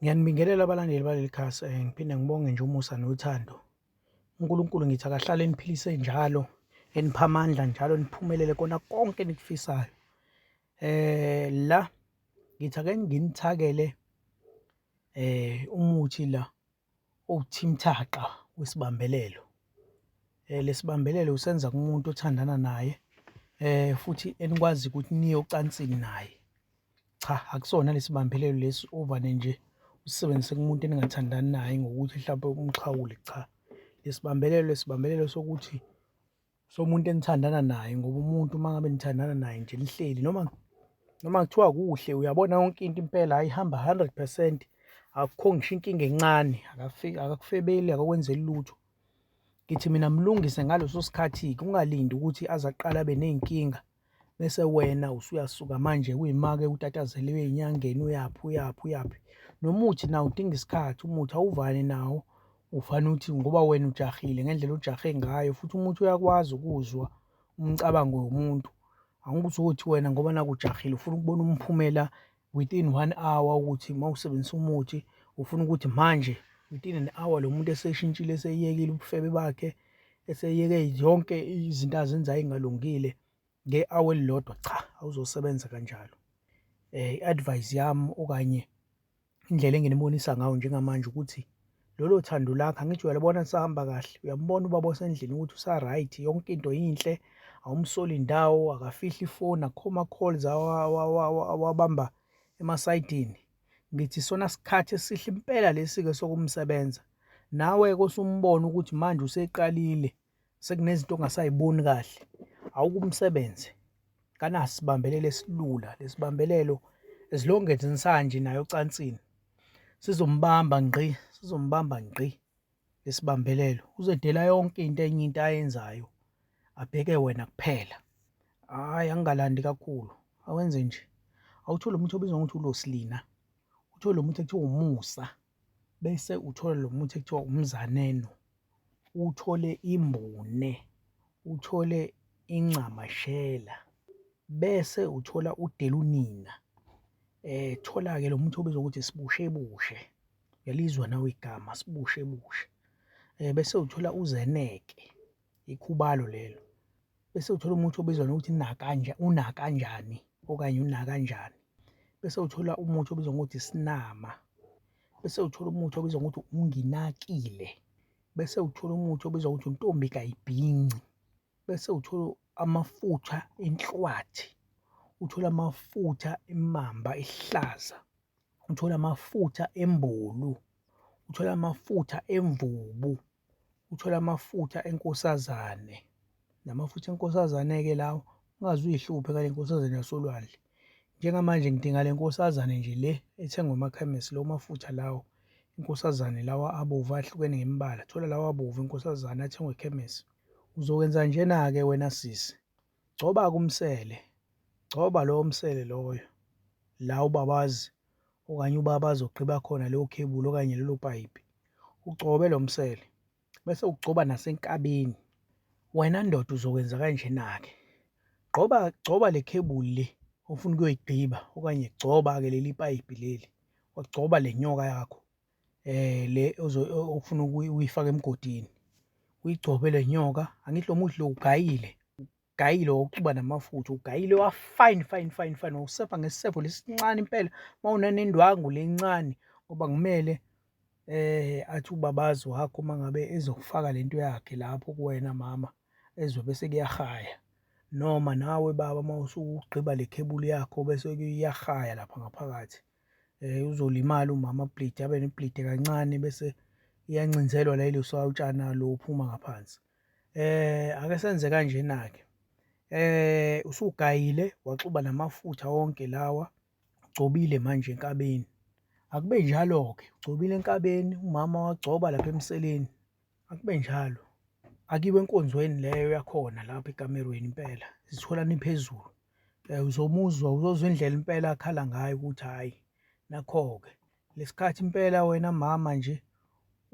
Ngiyanibingelela abalandeli baleli khasi um ngiphinde ngibonge nje umusa nothando uNkulunkulu ngithi akahlale eniphilise njalo enipha amandla njalo niphumelele kona konke enikufisayo eh la ngithi ake nginithakele eh umuthi la Uwuthimthaqa wesibambelelo. Eh lesibambelelo usenza kumuntu othandana naye eh futhi enikwazi ukuthi niye ocansini naye. Cha akusona lesibambelelo lesi ovane nje usebenzise kumuntu eningathandani naye ngokuthi mhlawumbe umxhawule cha. Lesibambelelo lesibambelelo sokuthi. So umuntu enithandana naye ngoba umuntu uma ngabe nithandana naye nje nihleli noma noma kuthiwa kuhle uyabona yonke into impela ayihamba 100 percent akukho ngisho inkinga encane akafiki akakufebeli akakwenzeli lutho ngithi mina mlungise ngaleso sikhathi kungalindi ukuthi aze aqala abe ney'nkinga bese wena usuyasuka manje kuyima-ke utatazele uye enyangeni uyaphi uyaphi uyaphi. Nomuthi nawo udinga isikhathi, umuthi awuvani nawo ufana ukuthi ngoba wena ujahile ngendlela ojahe ngayo futhi umuthi uyakwazi ukuzwa umcabango womuntu. Angithi wena ngoba nakhu ujahile ufuna ukubona umphumela within one hour ukuthi uma usebenzisa umuthi ufuna ukuthi manje within an hour lo muntu eseshintshile eseyekile ubufebe bakhe eseyeke zonke izinto azenzayo engalungile nge-hour elilodwa cha awuzosebenza kanjalo um i-advise yami okanye indlela enginibonisa ngayo njengamanje ukuthi lolo thando lakho angithi uyalibona lisahamba kahle uyambona ubaba osendlini ukuthi usa-right yonke into yinhle awumsoli ndawo akafihli ifoni akukho ma-calls awabamba emasayidini ngithi sona sikhathi esihle impela lesi-ke sokumsebenza nawe-ke usumbona ukuthi manje useqalile sekunezinto ongasayiboni kahle awukumsebenzi kanaso sibambelelo esilula lesibambelelo as long as insanje nayo ocansini sizombamba ngqi sizombamba ngqi lesibambelelo uzedela yonke into enye into ayenzayo abheke wena kuphela hayi angingalandi kakhulu awenze nje awuthole umuntu obizwa ngokuthi ulosilina uthole umuntu ekuthiwa umusa bese uthola lo muthi ekuthiwa umzaneno, uthole imbune, uthole incamashela, bese uthola udelunina. Thola-ke lo muthi obizwa ngokuthi isibushebushe, uyalizwa nawe igama sibushebushe. Bese uthola uzeneke, ikhubalo lelo. bese uthola umuthi obizwa ngokuthi nakanja unakanjani okanye unakanjani bese uthola umuthi obizwa ngokuthi sinama bese uthola umuthi obizwa ngokuthi unginakile bese uthola umuthi obizwa ngokuthi untombi kayibhinci bese uthola amafutha enhlwathi uthola amafutha emamba ehlaza uthola amafutha embulu uthola amafutha emvubu uthole amafutha enkosazane. La mafutha enkosazane-ke lawa ungaze uy'hluphe ngale nkosazane yasolwandle. Njengamanje ngidinga le nkosazane nje le ethengwa emakhemesi lawo mafutha lawo. Inkosazane lawa abovu ahlukene ngemibala, thola lawa abovu enkosazane athengwa ekhemesi. Uzokwenza njena-ke wena sisi. Gcoba-ke umsele, gcoba lowo msele loyo la ubabazi okanye ubaba azogqiba khona leyo khebuli okanye lelo payipi, ugcobe lo msele bese ugcoba nasenkabeni. Wena ndoda uzokwenza kanjena-ke, gqoba, gcoba le khebuli le ofuna ukuyoyigqiba okanye gcoba-ke leli payipi leli, wagcoba le nyoka yakho. Le ofuna ukuyifaka emgodini uyigcobe le nyoka, angithi lo muthi lo ugayile, ugayile wawuxuba namafutha, ugayile wa-fine fine fine fine, wawusebha ngesisebho lesi sincane impela, uma unanendwangu le encane ngoba kumele athi ubabazi wakho uma ngabe ezokufaka le nto yakhe lapho kuwena mama ezwe bese kuyahaya. Noma nawe baba uma usugqiba le khebuli yakho bese kuyahaya lapha ngaphakathi. um uzolimala umama bleed abe nibleede kancane bese iyancinzelwa la iluswa utshana lo uphuma ngaphansi eh ake senze kanjena ke eh usugayile waxuba namafutha wonke lawa ugcobile manje enkabeni akube njalo ke ugcobile enkabeni umama wagcoba lapha emseleni Akube njalo. Akiwe enkonzweni leyo yakhona lapho ekamerweni impela. Zithola niphezulu. Eh, uzomuzwa uzozwa indlela impela akhala ngayo ukuthi hhayi nakho-ke lesikhathi impela wena mama nje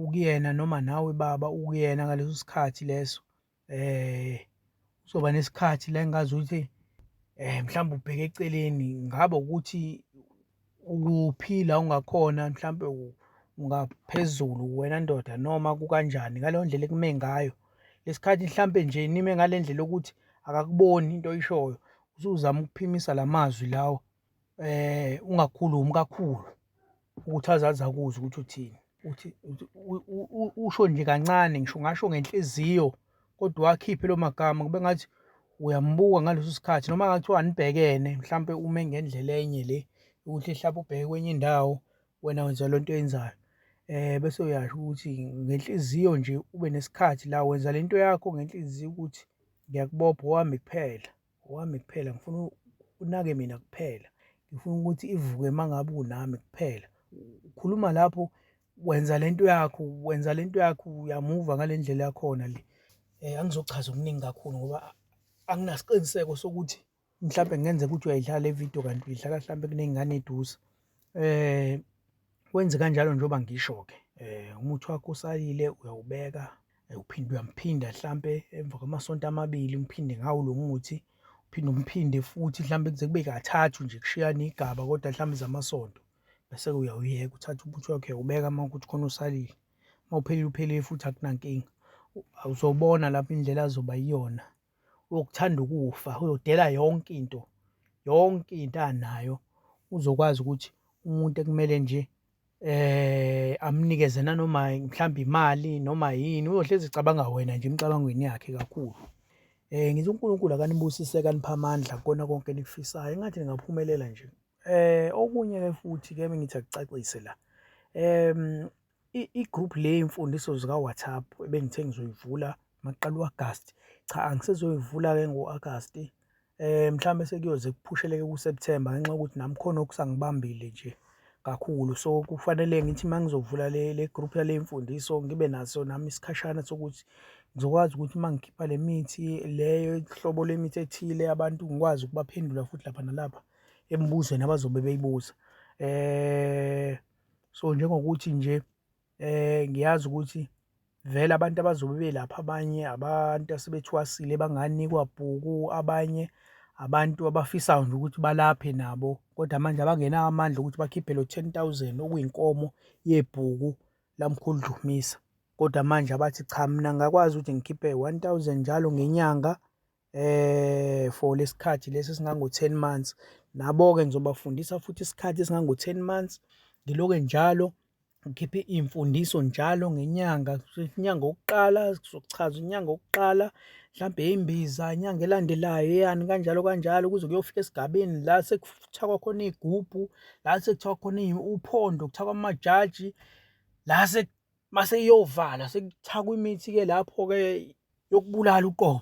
ukuyena noma nawe baba ukuyena ngaleso sikhathi leso um uzoba nesikhathi la engazuthi um mhlawumbe ubheke eceleni ngaba ukuthi ukuphi la ungakhona mhlawumbe ungaphezulu wena ndoda noma kukanjani ngaleyo ndlela ekume ngayo lesikhathi mhlawumbe nje nime ngale ndlela yokuthi akakuboni into oyishoyo usuzama ukuphimisa la mazwi lawo eh ungakhulumi kakhulu ukuthi azazi akuze ukuthi uthini uthi usho nje kancane ngisho ngasho ngenhliziyo kodwa wakhiphe lo magama kube ngathi uyambuka ngaleso sikhathi noma ngathiwa anibhekene mhlampe ume ngendlela enye le ukuthi mhlawumbe ubheke kwenye indawo wena wenza le nto oyenzayo um bese uyasho ukuthi ngenhliziyo nje ube nesikhathi la wenza le nto yakho ngenhliziyo ukuthi ngiyakubopha owami kuphela Wami kuphela ngifuna unake mina kuphela. Ngifuna ukuthi ivuke uma ngabe unami kuphela. Ukhuluma lapho wenza le nto yakho, wenza le nto yakho uyamuva ngale ndlela yakhona le. Um angizochaza okuningi kakhulu ngoba anginasiqiniseko sokuthi mhlawumbe kungenzeka ukuthi uyayidlala le vidiyo kanti uyidlala mhlawumbe kuney'ngane eduze. Eh wenze kanjalo njengoba ngisho ke. Eh umuthi wakho usalile uyawubeka eh, uphinde uyamphinda mhlambe emva kwamasonto amabili umphinde ngawo lo muthi uphinde umphinde futhi mhlambe kuze kube kathathu nje kushiyana igaba kodwa mhlambe zamasonto bese uyawuyeka uthatha umuthi wakho uyawubeka uma ukuthi khona usalile uma uphelile uphelile futhi akunankinga uzobona lapho indlela azoba yiyona wokuthanda ukufa uyodela yonke into yonke into anayo uzokwazi ukuthi umuntu ekumele nje eh amnikeze nanoma mhlawumbe imali noma yini uyohlezi ecabanga wena nje emicabangweni yakhe kakhulu eh ngithi uNkulunkulu akanibusise kanipha amandla kona konke nikufisayo engathi ningaphumelela nje eh okunye ke futhi ke ngithi akucacise la em i-group le yemfundiso zika-WhatsApp ebengithe ngizoyivula maqala u-Agasti. Cha angisezoyivula-ke ngo-Agasti um mhlawumbe sekuyoze kuphusheleke ku-September ngenxa yokuthi nami khona okusangibambile nje kakhulu so kufanele ngithi uma ngizovula le le group yale mfundiso ngibe naso nami isikhashana sokuthi ngizokwazi ukuthi uma ngikhipha le mithi leyo hlobo lemithi ethile abantu ngikwazi ukubaphendula futhi lapha nalapha emibuzweni abazobe beyibuza um So njengokuthi nje eh ngiyazi ukuthi vele abantu abazobe belapha abanye abantu asebethwasile banganikwa bhuku abanye abantu abafisayo nje ukuthi balaphe nabo kodwa manje abangenawo amandla ukuthi bakhiphe lo 10000 okuyinkomo yebhuku lamkhulu Dlumisa kodwa manje abathi cha mina ngakwazi ukuthi ngikhiphe 1000 njalo ngenyanga for lesikhathi lesi esingango 10 months nabo ke ngizobafundisa futhi isikhathi esingango 10 months ngiloke njalo ngikhiphe imfundiso njalo ngenyanga inyanga yokuqala sizochaza inyanga yokuqala mhlambe imbiza inyanga elandelayo yani kanjalo kanjalo kuze kuyofika esigabeni la sekuthakwa khona igubhu la sekuthiwa khona uphondo kuthakwa amajaji la mase iyovala sekuthakwa imithi ke lapho ke yokubulala uqobo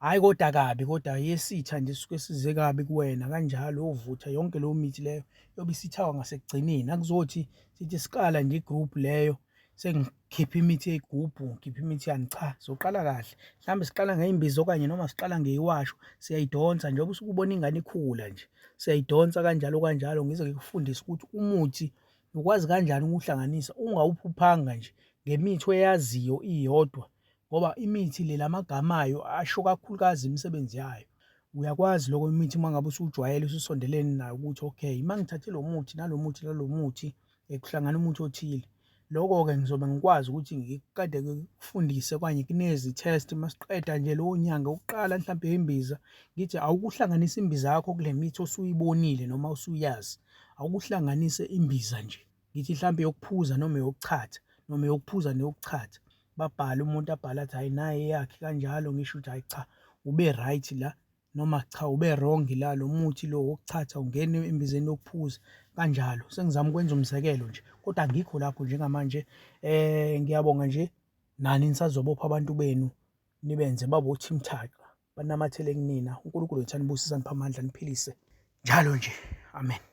hhayi kodwa kabi kodwa yesitha nje suke size kabi kuwena kanjalo yovutha yonke leyo mithi leyo yobe isithawa ngasekugcineni akuzothi sithi siqala nje i-group leyo sengikhipha imithi yeyigubhu ngikhipha imithi yani cha sizoqala kahle mhlawumbe siqala ngey'mbiza okanye noma siqala ngeyiwasho siyayidonsa njengoba usuke ubona ingane ikhula nje siyayidonsa kanjalo kanjalo ngize ngikufundise ukuthi umuthi ukwazi kanjani ukuwuhlanganisa ungawuphuphanga nje ngemithi oyaziyo iyodwa ngoba imithi le lamagama ayo asho kakhulukazi imisebenzi yayo. Uyakwazi lokho imithi uma ngabe usujwayele ususondelene nayo ukuthi okay uma ngithathe lo muthi nalo muthi nalo muthi eh, kuhlangana umuthi othile lokho-ke ngizobe ngikwazi ukuthi ngiqede kufundise okanye kunezi-test uma siqeda nje lowo nyanga ukuqala mhlawumbe imbiza ngithi awukuhlanganisa imbiza yakho kule mithi osuyibonile noma usuyazi awukuhlanganise imbiza nje ngithi hlampe yokuphuza noma yokuchatha noma yokuphuza neyokuchatha babhale umuntu abhale athi hhayi naye eyakhe kanjalo ngisho ukuthi hhayi cha ube right la noma cha ube wrong la lo muthi lo wokuchatha ungene embizeni yokuphuza kanjalo sengizama ukwenza umzekelo nje kodwa ngikho lapho njengamanje eh ngiyabonga nje nani nisazobopha abantu benu nibenze babothi mthaqa banamathele kunina uNkulunkulu wethu anibusise aniphe amandla niphilise njalo nje amen